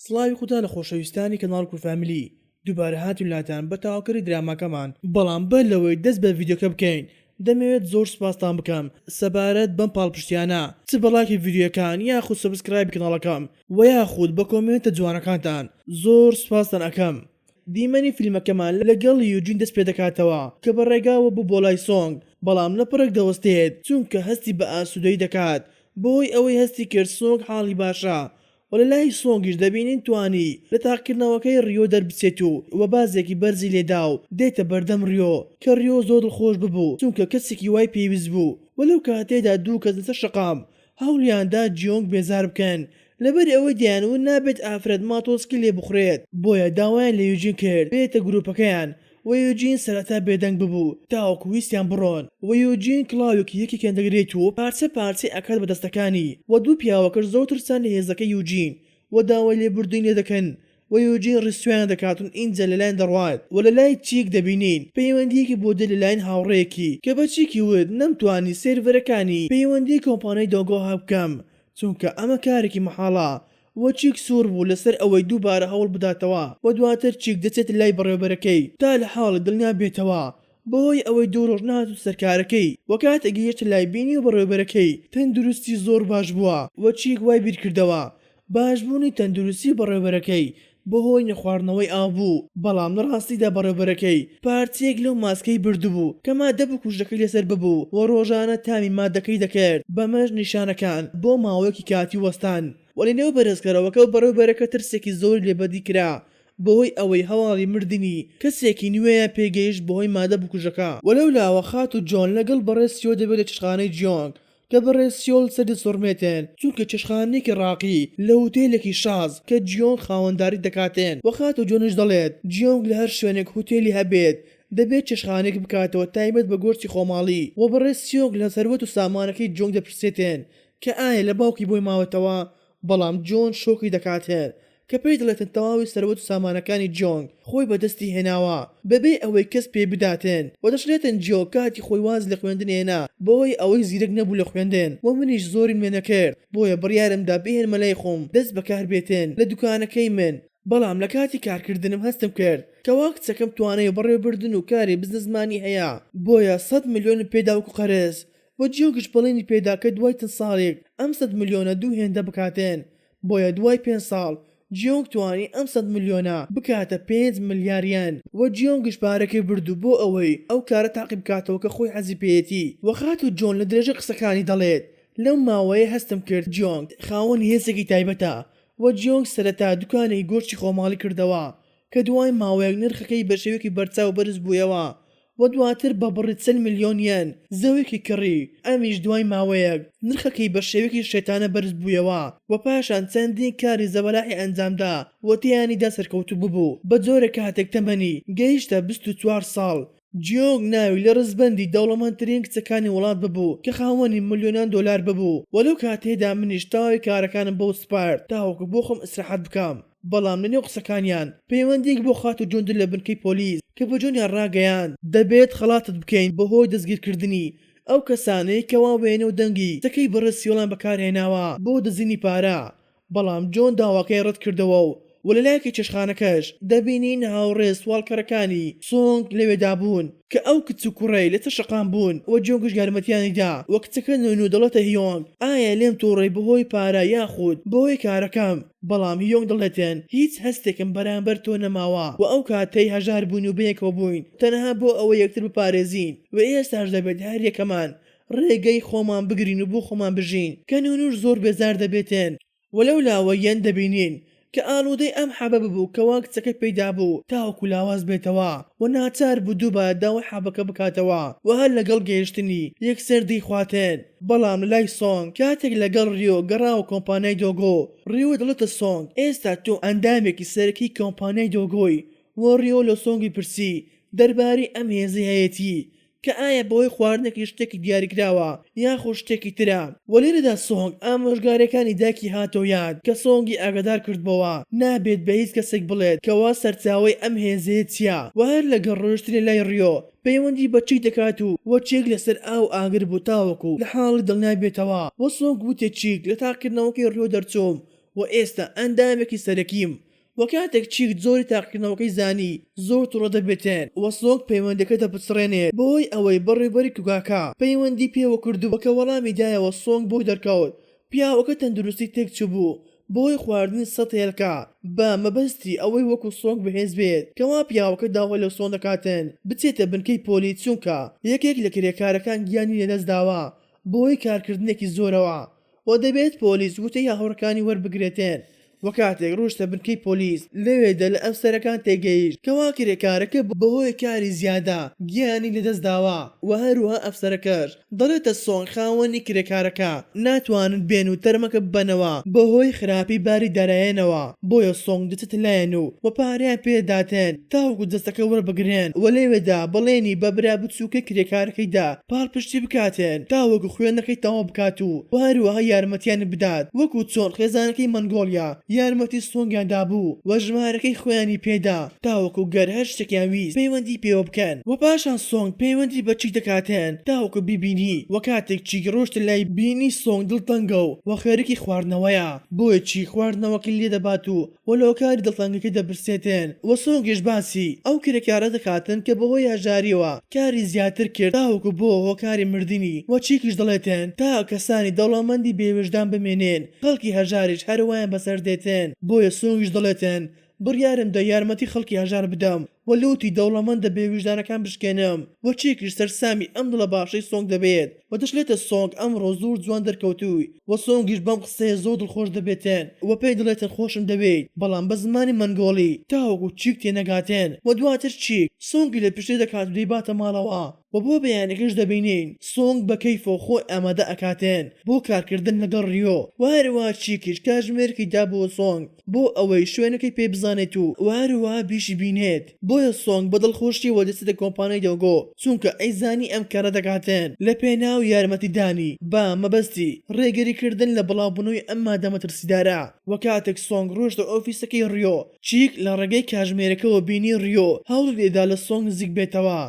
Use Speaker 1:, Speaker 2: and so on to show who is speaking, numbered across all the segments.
Speaker 1: سڵاوی خودا لە خۆشەویستانی کەناڵ کور فامیلی دووبارە هاتوون لاتان بە تەواوکەری دراماکەمان بەڵام بەر لەوەی دەست بە ڤیدیۆکە بکەین دەمەوێت زۆر سوپاستان بکەم سەبارەت بەم پاڵپشتیانە چ بە ڵایکی ڤیدیۆیەکان یاخود سەبسکرایبی کەناڵەکەم وە یاخود بە کۆمێنتە جوانەکانتان زۆر سوپاستان ئەکەم. دیمەنی فیلمەکەمان لەگەڵ یوجین دەست پێدەکاتەوە کە بە ڕێگاوە بوو بۆ لای سۆنگ بەڵام لە پڕێک دەوەستێت چونکە هەستی بە ئاسودەیی دەکات بەوەی ئەوەی هەستی کرد سۆنگ حاڵی باشە و لە لای سۆنگیش دەبینین توانی لە تاقیکردنەوەکەی ریۆ دەربچێت و و بازێکی بەرزی لێدا و دێتە بەردەم ریۆ کە ریۆ زۆر دڵخۆش ببوو چونکە کەسێکی وای پێویست بوو و لەو کاتەیەدا دوو کەس لەسەر شەقام هەوڵیان دا جیۆنگ بێزار بکەن لەبەر ئەوەی دەیان وت نابێت ئافرەت ماتۆسکی لێ بخورێت بۆیە داوایان لە یوجین کرد بێتە گروپەکەیان وە یوجین سەرەتا بێدەنگ ببوو تاوەکو ویستیان بڕۆن وە یوجین کڵاوێکی یەکێکیان دەگرێت و پارچە پارچەی ئەکات بە دەستەکانی وە دوو پیاوەکەش زۆر ترسان لە هێزەکەی یوجین وە داوای لێبوردنی لێ دەکەن وە یوجین ڕیسوایان دەکات و ئینجا لەلایان دەڕوات وە لەلای چیک دەبینین پەیوەندیەکی بۆ دێت لەلایەن هاوڕێیەکی کە بە چیکی وت نەمتوانی سێرڤەرەکانی پەیوەندی کۆمپانیای دۆگۆ هاک بکەم چونکە ئەمە کارێکی مەحاڵە و چیک سوور بوو لەسەر ئەوەی دووبارە هەوڵ بداتەوە و دواتر چیک دەچێتە لای بەڕێوبەرەکەی تا لە حاڵی دڵنیا بێتەوە بەهۆی ئەوەی دوو ڕۆژ نەهاتووتە کارەکەی و کاتێک گەیشتە لای بینیوە بەڕێوبەرەکەی تەندروستی زۆر باش بووە و چیک وای بیرکردەوە باشبوونی تەندروستی بەڕێوبەرەکەی بەهۆی نەخواردنەوەی ئاو بوو، بەڵام لە ڕاستیدا بەڕێوبەرەکەی پارتییەک لەو ماسکەی بردبوو کە ماددە بکوژەکەی لەسەر ببوو و ڕۆژانە تامی ماددەکەی دەکرد، بەمەش نیشانەکان بۆ ماوەیەکی کاتی وەستان، وەلێ نێو بەرێزکەرەوەکە و بەڕێوبەرەکە ترسێکی زۆری لێ بەدی کرا بەهۆی ئەوەی هەواڵی مردنی کەسێکی نوێیان پێ گەیشت بەهۆی ماددە بکوژەکە. وەلەولاوە خاتوو جۆن لەگەڵ بەڕێز سیۆ دەبێت لە چێشتخانەی جیۆنگ کە بەڕێز سیۆل سەدر سۆرمێتێن، چونکە چێشتخانەیەکی ڕاقی لە هوتێلێکی شاز کە جیۆنگ خاوەنداری دەکاتێن وە خاتوو جۆنش دەڵێت جیۆنگ لە هەر شوێنێک هوتێلی هەبێت دەبێت چێشتخانەیەک بکاتەوە تایبەت بە گۆشتی خۆماڵی وە بەڕێز سیۆنگ لە سەروەت و سامانەکەی جیۆنگ دەپرسێتێن کە ئایا لە باوکی بۆی ماوەتەوە بەڵام جۆن شۆکی دەکات هێر کە پێی دەڵێتن تەواوی سەروەت و سامانەکانی جۆنگ خۆی بە دەستی هێناوە بەبێ ئەوەی کەس پێی بداتن وە دەشلێتن جۆ کاتی خۆی واز لە خوێندن هێنا بەوەی ئەوەی زیرەک نەبوو لە خوێندن وە منیش زۆریم لێ نەکرد بۆیە بڕیارم دا بیهێنمە لای خۆم دەست بەکار بێتن لە دوکانەکەی من بەڵام لە کاتی کارکردنم هەستم کرد کەوا کچەکەم توانای بەڕێوەبردن و کاری بزنسمانی هەیە بۆیە سەد ملیۆنم پێدا وەکو قەرز و جیۆنگش بەڵێنی پێدا کە دوای چەند ساڵێک ئەم سەد ملیۆنە دوو هێندە بکاتن، بۆیە دوای پێنج ساڵ جیۆنگ توانی ئەم سەد ملیۆنە بکاتە پێنج ملیار یەن، و جیۆنگش پارەکەی بردو بۆ ئەوەی ئەو کارە تاقی بکاتەوە کە خۆی حەزی پێیەتی، و خاتوو جۆن لە درێژەی قسەکانی دەڵێت لەو ماوەیە هەستم کرد جیۆنگ خاوەنی هێزێکی تایبەتە، و جیۆنگ سەرەتا دوکانێکی گۆشتی خۆماڵی کردەوە کە دوای ماوەیەک نرخەکەی بە شێوەیەکی بەرچاو بەرز بوویەوە و دواتر بە بڕی چل ملیۆن یەن زەویەکی کڕی، ئەمیش دوای ماوەیەک نرخەکەی بە شێوەیەکی شێتانە بەرز بوویەوە و پاشان چەندین کاری زەبەلاحی ئەنجامدا و تێیانیدا سەرکەوتوو ببوو بە جۆرێک کاتێک تەمەنی گەیشتە بیست و چوار ساڵ، جیۆنگ ناوی لە ڕیزبەندی دەوڵەمەندترین کچەکانی وڵات ببوو کە خاوەنی ملیۆنان دۆلار ببوو و لەو کاتەیەدا منیش تەواوی کارەکانم بەو سپارد تاوەکو بۆخۆم ئیسراحەت بکەم. بەڵام لە نێو قسەکانیان پەیوەندیەک بۆ خاتوو جۆندر لە بنکەی پۆلیس کە بە جۆنیان ڕاگەیاند، دەبێت خەڵاتت بکەین بە هۆی دەستگیرکردنی ئەو کەسانەی کەوا وێنە و دەنگی قسەکەی بەڕێز سیڵان بەکارهێناوە بۆ دزینی پارە، بەڵام جۆن داواکەی ڕەت کردەوە و لە لایەکی چێشتخانەکەش دەبینین هاوڕێ سواڵکەرەکانی سۆنگ لەوێدا بوون کە ئەو کچ و کوڕەی لەسەر شەقام بوون و جۆنگش یارمەتیانی دا و کچەکە نۆینۆ دەڵێتە هیۆنگ ئایا لێم توڕەی بە هۆی پارە یاخود بە هۆی کارەکەم؟ بەڵام یۆنگ دەڵێتن هیچ هەستێکم بەرامبەر تۆ نەماوە و ئەو کاتەی هەژار بووین و بەیەکەوە بووین تەنها بۆ ئەوەی یەکتر بپارێزین و ئێستاش دەبێت هەر یەکەمان ڕێگەی خۆمان بگرین و بۆ خۆمان بژین کە نونور زۆر بێزار دەبێتن و لەو لاوە یەن دەبینین کە ئالودەی ئەم حەبە ببوو کەوا کچەکە پێی دابوو تاوەکو لاواز بێتەوە و ناچار بوو دووبارە داوای حەبەکە بکاتەوە و هەر لەگەڵ گەیشتنی یەکسەر دەیخواتن. بەڵام لای سۆنگ کاتێک لەگەڵ ریۆ گەڕاوە کۆمپانیای دۆگۆ، ریۆ دەڵێتە سۆنگ ئێستا تۆ ئەندامێکی سەرەکی کۆمپانیای دۆگۆی و ریۆ لە سۆنگی پرسی دەربارەی ئەم هێزەی هەیەتی کە ئایا بەهۆی خواردنێکی شتێکی دیاریکراوە یاخود شتێکی ترە و لێرەدا سۆنگ ئامۆژگاریەکانی دایکی هاتۆ یاد کە سۆنگی ئاگادار کردبۆوە نابێت بە هیچ کەسێک بڵێت کەوا سەرچاوەی ئەم هێزەیە چیە و هەر لەگەڵ ڕۆیشتنی لای ریۆ پەیوەندی بە چی دەکات و وە چیک لەسەر ئاو و ئاگر بوو تاوەکو لە حاڵی دڵنیا بێتەوە وە سۆنگ وتی چیک لە تاقیکردنەوەکەی ڕیۆ دەرچووم وە ئێستا ئەندامێکی سەرەکیم وە کاتێک چیک جۆری تاقیکردنەوەکەی زانی زۆر توڕە دەبێتن وە سۆنگ پەیوەندیەکە دەپچڕێنێت بەوەی ئەوەی بەڕێوبەری کوگاکە پەیوەندی پێوە کردبوو کە وەڵامی دایەوە سۆنگ بۆی دەرکەوت پیاوەکە تەندروستی تێک چوبوو بەهۆی خواردنی سەد هێلکە بە مەبەستی ئەوەی وەکو سۆنگ بەهێز بێت کەوا پیاوەکە داوا لە سۆن دەکاتن بچێتە بنکەی پۆلی چونکە یەکێک لە کرێکارەکان گیانی لەدەست داوە بەهۆی کارکردنێکی زۆرەوە و دەبێت پۆلیس وتەی هاوڕێکانی وەربگرێتن و کاتێک ڕۆشتە بنکەی پۆلیس لەوێ دە لە ئەفسەرەکان تێگەیشت کەوا کرێکارەکە بە هۆی کاری زیادە گیانی لە دەست داوە و هەروەها ئەفسەرەکەش دەڵێتە سۆنگ خاوەنی کرێکارەکە ناتوانن بێن و تەرمەکە ببەنەوە بە هۆی خراپی باری دارایەنەوە بۆیە سۆنگ دەچێتە لایەن و و پارەیان پێ دەداتن. تاوەکو جەستەکە وەربگرێن و لەوێدا بەڵێنی بە برا بچووکەی کرێکارەکەی دا پاڵپشتی بکاتێن تاوەکو خوێندنەکەی تەواو بکات و هەروەها یارمەتییان بدات وەکو چۆن خێزانەکەی مەنگۆڵیا یارمەتی سۆنگیان دابوو و ژمارەکەی خۆیانی پێدا تاوەکو گەر هەر شتێکیان ویست پەیوەندی پێوە بکەن. وە پاشان سۆنگ پەیوەندی بە چیک دەکاتێن تاوەکو بیبینی وە کاتێک چیک ڕۆشتە لای بینی سۆنگ دڵتەنگە و وە خەریکی خواردنەوەیە بۆیە چیک خواردنەوەکەی لێدەبات و وە لەهۆکاری دڵتەنگەکەی دەپرسێتێن وە سۆنگیش باسی ئەو کرێکارە دەکاتن کە بەهۆی هەژاریەوە کاری زیاتر کرد تاوەکو بوە هۆکاری مردنی وە چیکیش دەڵێتێن تا کەسانی دەوڵەمەندی بێویژدان بمێنێن خەڵکی هەژاریش هەروایان بەسەردێتێن بۆیە سۆنگیش دەڵێتێن بڕیارم دا یارمەتی خەڵکی هەژار بدەم و لوتی دەوڵەمەندە بێ ویژدانەکان بشکێنم و چیکیش سەرسامی ئەم دڵە باشەی سۆنگ دەبێت و دەشلێتە سۆنگ ئەمڕۆ زۆر جوان دەرکەوتووی و سۆنگیش بەم قسەیە زۆر دڵخۆش دەبێتن و پێی دەڵێتن خۆشم دەوێیت بەڵام بە زمانی مەنگۆڵی تاوەکو چیک تێنەگاتن و دواتر چیک سۆنگی لە پشتێ دەکات و دەیباتە ماڵەوە و بۆ بەیانیکەش دەبینین سۆنگ بە کەیف و خۆی ئامادە ئەکاتن بۆ کارکردن لەگەڵ ڕیۆ و هەروا چیکیش کاتژمێرێکی دابووە سۆنگ بۆ ئەوەی شوێنەکەی پێ بزانێت و وەهەروەها بیشی بینێت بۆیە سۆنگ بە دڵخۆشیەوە دەچێتە کۆمپانیای دۆگۆ چونکە ئەیزانی ئەم کارە دەکاتن لە پێناو یارمەتی دانی بە مەبەستی ڕێگری کردن لە بڵاو بونەوەی ئەم مادە مەترسیدارە وە کاتێک سۆنگ ڕۆشتە ئۆفیسەکەی ڕیۆ چیک لە ڕێگەی کاژمێرەکەوە بینی ڕیۆ هەوڵی دەیدا لە سۆنگ نزیک بێتەوە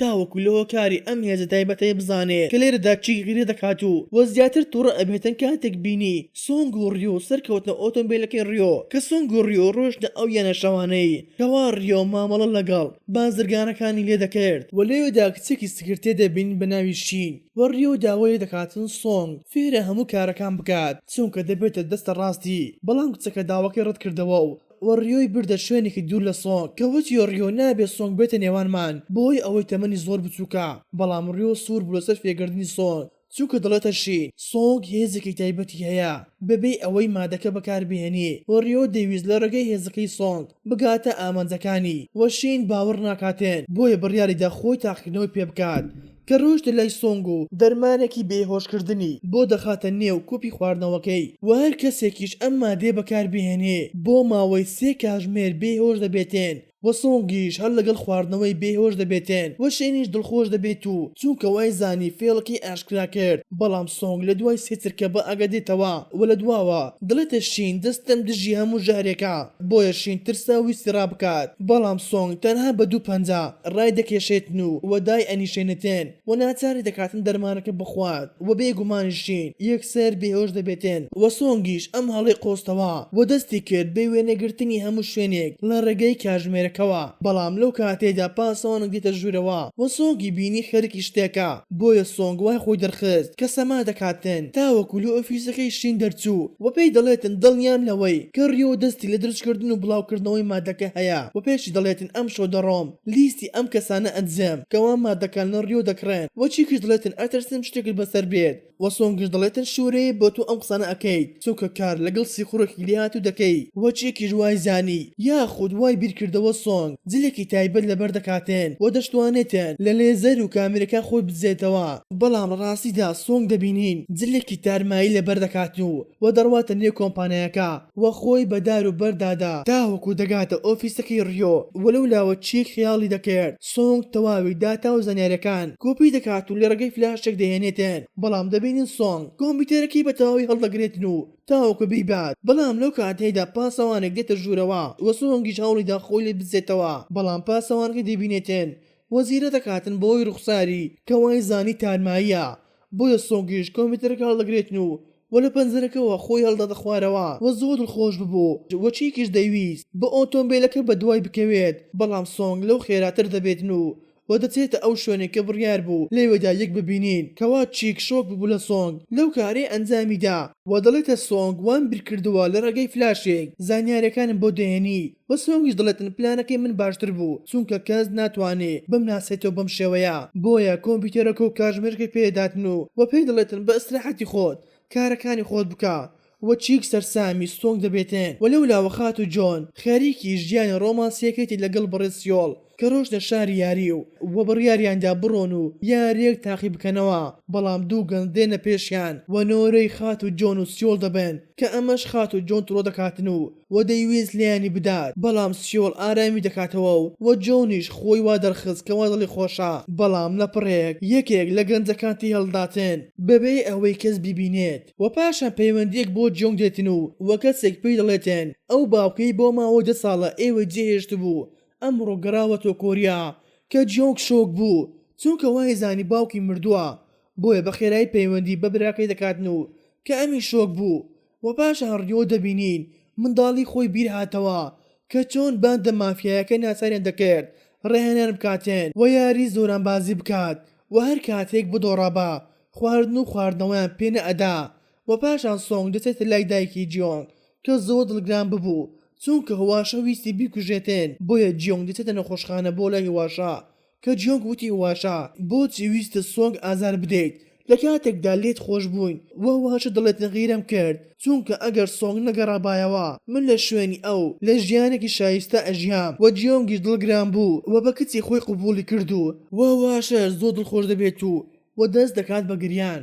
Speaker 1: تاوەکو لە هۆکاری ئەم هێزە تایبەتەی بزانێ کە لێرەدا چی غیرە دەکات و وە زیاتر توڕە ئەبێتن کاتێک بینی سۆنگ و ڕیۆ سەرکەوتنە ئۆتۆمبێلەکەی ڕیۆ کە سۆنگ و ڕیۆ ڕۆشتنە ئەو یانە شەوانەی کەوا ڕیۆ مامەڵە لەگەڵ بازرگانەکانی لێ دەکرد وە لەوێدا کچێکی سکرتێر دەبینن بە ناوی شین وە ڕیۆ داوای لێ دەکاتن سۆنگ فێرە هەموو کارەکان بکات چونکە دەبێتە دەستە ڕاستی بەڵام کچەکە داواکەی ڕەت کردەوە و و ڕیۆی بردە شوێنێکی دوور لە سۆنگ کە وتی و ڕیۆ نابێت سۆنگ بێتە نێوانمان بەهۆی ئەوەی تەمەنی زۆر بچووکە بەڵام ڕیۆ سوور بوو لەسەر فێگردنی سۆنگ چونکە دەڵێتە شین سۆنگ هێزێکی تایبەتی هەیە بەبێ ئەوەی مادەکە بەکاربهێنی و ڕیۆ دەیویست لە ڕێگەی هێزەکەی سۆنگ بگاتە ئامانجەکانی و شین باوەڕ ناکاتێن بۆیە بڕیاریدا خۆی تاقیکردنەوەی پێبکات کە ڕۆیشتە لای سۆنگ و دەرمانێکی بێهۆشکردنی بۆ دەخاتە نێو کوپی خواردنەوەکەی و هەر کەسێکیش ئەم مادەیە بەکاربهێنێ بۆ ماوەی سێ کاژمێر بێهۆش دەبێتێن و سۆنگیش هەر لەگەڵ خواردنەوەی بێهۆش دەبێتێن و شێنیش دڵخۆش دەبێت و چونکە وایزانی فێڵەکەی ئاشکرا کرد بەڵام سۆنگ لە دوای سێ چرکە بە ئاگا دێتەوە و لە دواوە دەڵێتە شین دەستم دژی هەموو ژەهرێکە بۆیە شینترسە ویستی ڕابکات بەڵام سۆنگ تەنها بە دوو پەنجە ڕای دەکێشێتن و و دایئەنیشێنێتن و ناچاری دەکاتن دەرمانەکە بخوات و بێ گومان شین یەکسەر بێهۆش دەبێتن و سۆنگیش ئەم هەڵەی قۆستەوە و دەستی کرد بە وێنەگرتنی هەموو شوێنێک لە ڕێگەی کاژمێرەکەوە بەڵام لەو کاتەیدا پاسەوانەک دێتە ژوورەوە و سۆنگی بینی خەریکی شتێکە بۆیە سۆنگ وای خۆی دەرخست کە سەما دەکاتن تاوەکو لە ئۆفیسەکەی شین دەرچوو و پێی دەڵێتن دڵنیام لەوەی کە ریۆ دەستی لە درچکردن و بڵاوکردنەوەی مادەکە هەیە و پێشی دەڵێتن ئەمشەو دەڕۆم لیستی ئەم کەسانە ئەدزێم کەوا مادەکان لە ریۆ دەکڕێن و چیکیش دڵێتن ئەترسم شتێکت بەسەر بێت و سۆنگیش دەڵێتن شورەیە بۆ تۆ ئەم قسانە ئەکەیت. چونکە کار لەگەڵ سیخوڕێکی لێهاتوو دەکەی وە چێکیش وای زانی یاخود وای بیرکردەوە سۆنگ جلێکی تایبەت لەبەر دەکاتێن وە دەشتوانێتێن لە لێزەر و کامێرەکان خۆی بدزێتەوە بەڵام لە ڕاستیدا سۆنگ دەبینین جلێکی تارمایی لەبەر دەکات و وە دەڕواتە نێو کۆمپانیاکە وە خۆی بە دار و بەرد دادا تاوەکو دەگاتە ئۆفیسەکەی ڕیۆ وە لەولاوە چیک خەیاڵی دەکرد سۆنگ تەواوی داتا و زانیاریەکان کۆپی دەکات و لەڕێگەی فلاشێک دەهێنێتن، بەڵام دەبینین سۆنگ کۆمپیوتەرەکەی بەتەواوی هەڵدەگرێتن و تاوەکو بیبات، بەڵام لەو کاتەیدا پاسەوانێک دێتە ژوورەوە و سۆنگیش هەوڵیدا خۆی لێ بزێتەوە، بەڵام پاسەوانەکەی دەبینێتن و زیرە دەکاتن بەوەی ڕوخساری کە وای زانی تارماییە بۆیە سۆنگیش کۆمپیوتەرەکە هەڵدەگرێتن و وە لە پەنجەرەکەوە خۆی هەڵداتە خوارەوە وە زۆر دڵخۆش ببوو وە چیکیش دەیویست بە ئۆتۆمبیلەکە بەدوای بکەوێت بەڵام سۆنگ لەو خێراتر دەبێتن و وە دەچێتە ئەو شوێنەی کە بڕیار بوو لەوێدا یەک ببینین کەوا چیک شۆک ببوو لە سۆنگ لەو کارەی ئەنجامیدا وە دەڵێتە سۆنگ وام بیرکردووە لە ڕێگەی فلاشێک زانیارەکانم بۆ دەهێنیت بە سۆنگیش دەڵێتن پلانەکەی من باشتر بوو چونکە کەس ناتوانێ بمناسێتەوە بەم شێوەیە بۆیە کۆمپیوتەرەکە و کاژمێرەکە پێ دەداتن و وە پێی دەڵێتن بە ئیسراحەتی خۆت کارەکانی خۆت بکە وە چیک سەرسامی سۆنگ دەبێتن وە لەولاوە خاتوو جۆن خەریکی ژیانی ڕۆمانسیەکەیتی لەگەڵ بەڕێز سیۆڵ کە رۆشتە شاری یاری و وە بڕیاریان دا بڕۆن و یاریەک تاقی بکەنەوە بەڵام دوو گەنج دێنە پێشیان وە نۆرەی خاتو جۆن و سیۆڵ دەبەن کە ئەمەش خاتو جۆن تڕۆ دەکاتن و وە دەیویست لێیانی بدات بەڵام سیۆڵ ئارامی دەکاتەوە و وە جۆنیش خۆی وا دەرخست کە وا دڵی خۆشە بەڵام لە پڕێک یەکێک لە گەنجەکان تێی هەڵداتن بەبێ ئەوەی کەس بیبینێت وە پاشان پەیوەندیەک بۆ جۆنگ دێتن و وە کەسێک پێی دەڵێتن ئەو باوکەی بۆ ماوەی دە ساڵە ئێوەی جێ هێشتبوو ئەمڕۆ گەڕاوەتەوە کۆریا کە جیۆنگ شۆک بوو چونکە وایزانی باوکی مردووە بۆیە بە خێرایی پەیوەندی بە براکەی دەکات نوو کە ئەمی شۆک بوو وە پاشان ڕیۆ دەبینین منداڵی خۆی بیر هاتەوە کە چۆن باندە مافیایەکە ناچاریان دەکرد ڕاهێنان بکاتێن وە یاری زۆرانبازی بکات وە هەر کاتێک بدۆڕابا خواردن و خواردنەوەیان پێ نەئەدا وە پاشان سۆنگ دەچێتە لای دایکی جیۆنگ کە زۆر دڵگران ببوو چونکە هواشە ویستی بیکوژێتێن بۆیە جیۆنگ دەچێتە نەخۆشخانە بۆ لای هواشە کە جیۆنگ وتی هواشە بۆچی ویستت سۆنگ ئازار بدەیت لە کاتێکدا لێت خۆش بووین وە هواشە دەڵێت غیرەم کرد چونکە ئەگەر سۆنگ نەگەڕابایەوە من لە شوێنی ئەو لە ژیانێکی شایستە ئەژیام وە جیۆنگیش دڵگران بوو وە بە کچی خۆی قبوڵی کردوو وە هواشەش زۆر دڵخۆش دەبێت و وە دەست دەکات بە گریان.